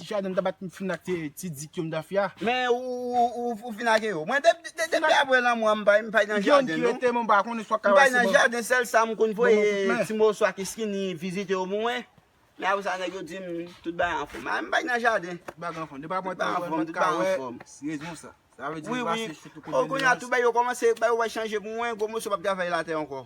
Tisha dan ta bat m fin ak ti dik yo m ta fia. Men ou fin ake yo. Mwen depi apre lanmou an m pay nan jaden non. Gen yon ki rete men m pa konnen si wap ka wè si bon. M pay nan jaden sèl sa m konn voye ti moso ak eskini vizite yo pou mwen. Men apre sa nèg yo di m tout bagay anfòm. Ay m pay nan jaden. Tout bagay anfòm. Depi apre lanmou an m pat ka wè si rezon sa. Sa vle di m pase chou tout kote. Kounya tout bagay yo kòmanse bay yo wè chanje pou mwen gwo moso pap travay latè ankò.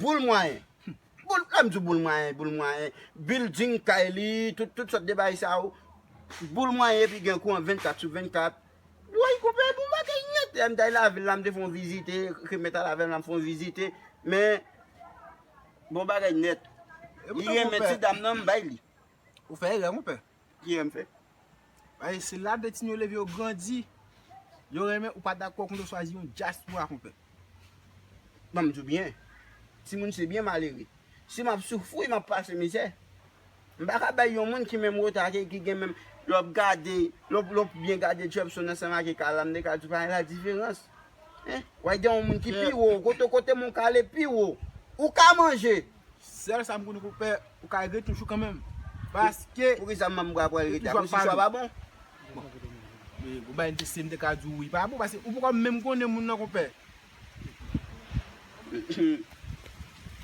Boul mwayen Lèm di w boul mwayen Boul mwayen Bilding kay li Tout sòt de bagay sa yo Boul mwayen epi gen kouran 24 sou 24 Woy konpè bon bagay nèt Lè m ta al lavil la m te fè yon vizite Ke m t al avè m la m fè yon vizite Men Bon bagay nèt Li renmen ti dam nan m bay li Ou fè erè konpè Kiyè m fè? Paske se la beti'n yo leve yo grandi. Yo renmen ou pa dakò konn yo chwazi yon dyaspora konpè. Ban m di w byen, timoun se byen malere. Si m ap soufri, m ap pase mizè, m pa ka bay yon moun ki menm reta ak e ki gen menm lè w ap gade, lè w byen gade Jepson ansanm ake Kale m de ka di w pa gen ladiferans. Hein? W'ap gade yon moun ki pi wo, kote kote moun kale pi wo. Ou ka manje, Sèl sa m konnen pou w fè, ou ka rive toujou kanmenm. Paske. Poukisa manm bwa pral rete akoz istwa pa bon? Bon. Men ou bay endisye m te ka di w li pa bon paske ou poko menm konnen moun nan konpè.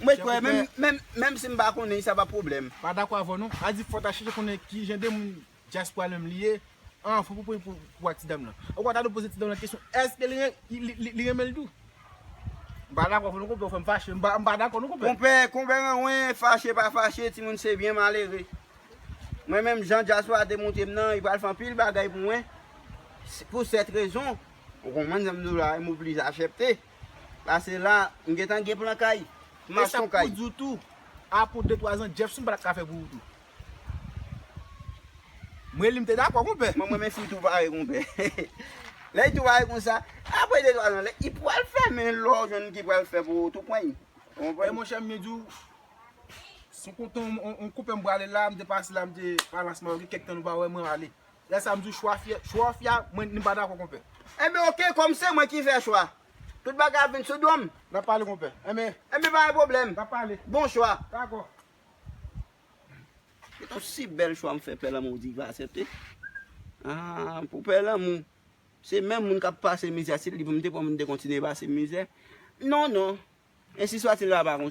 Mwen kwè menm si m pa konnen li sa pa pwoblèm. Pa dakò avè w non. A di fò w ta chèche konnen kijan de moun. Dyaspora menm li ye? An fou pou pouvwa ti dam lan. Ou ka ta dwe poze ti dam lan kesyon èske li renmen l tou? M pa dakò avè w non konpè ou fè m fache m pa dakò non konpè. Konpè, konpè renwen, fache pa fache ti moun se byen malere. Mwen menm jan dyaspora te montre m nan li pral fè anpil bagay pou mwen pou sèt rezon ou konprann sa m di w la m oblije asèpte pase la m gentan gen plan kay m ap son kay. E sa m pou di w tou apre 2, 3 zan Jephson pa ta ka fè pou ou tou. M reli m te dakò konpè. Mwen m renmen fi tou pare konpè. Lè yi tou pare konsa, apre 2 3 zan lè yi pral fè men lè w jwenn ki pral fè pou ou tou pwen yi. Ou konprann? E monchè m byen di w, sou kont yon konpè m prale la, m te pase la m te pa Las Mayorgues kèk tan nou pa wè mwen ale. Lè sa m di w chwa fi chwa fi a mwen ni m pa dakò konpè. Enben ok kòm se mwen ki fè chwa, tout bagay ap vin sou do m. N ap pale konpè. Enben. Enben pa gen pwoblèm. N ap pale. Bon chwa. Dakò. Se yon si bèl chwa m fè pè lanmou di l va asepte. Haa pou pè lanmou. Se menm moun kap pase mizè si li pou m te pran m te kontinye pase mizè. Non non. Ensi swa ti l la pa kontan.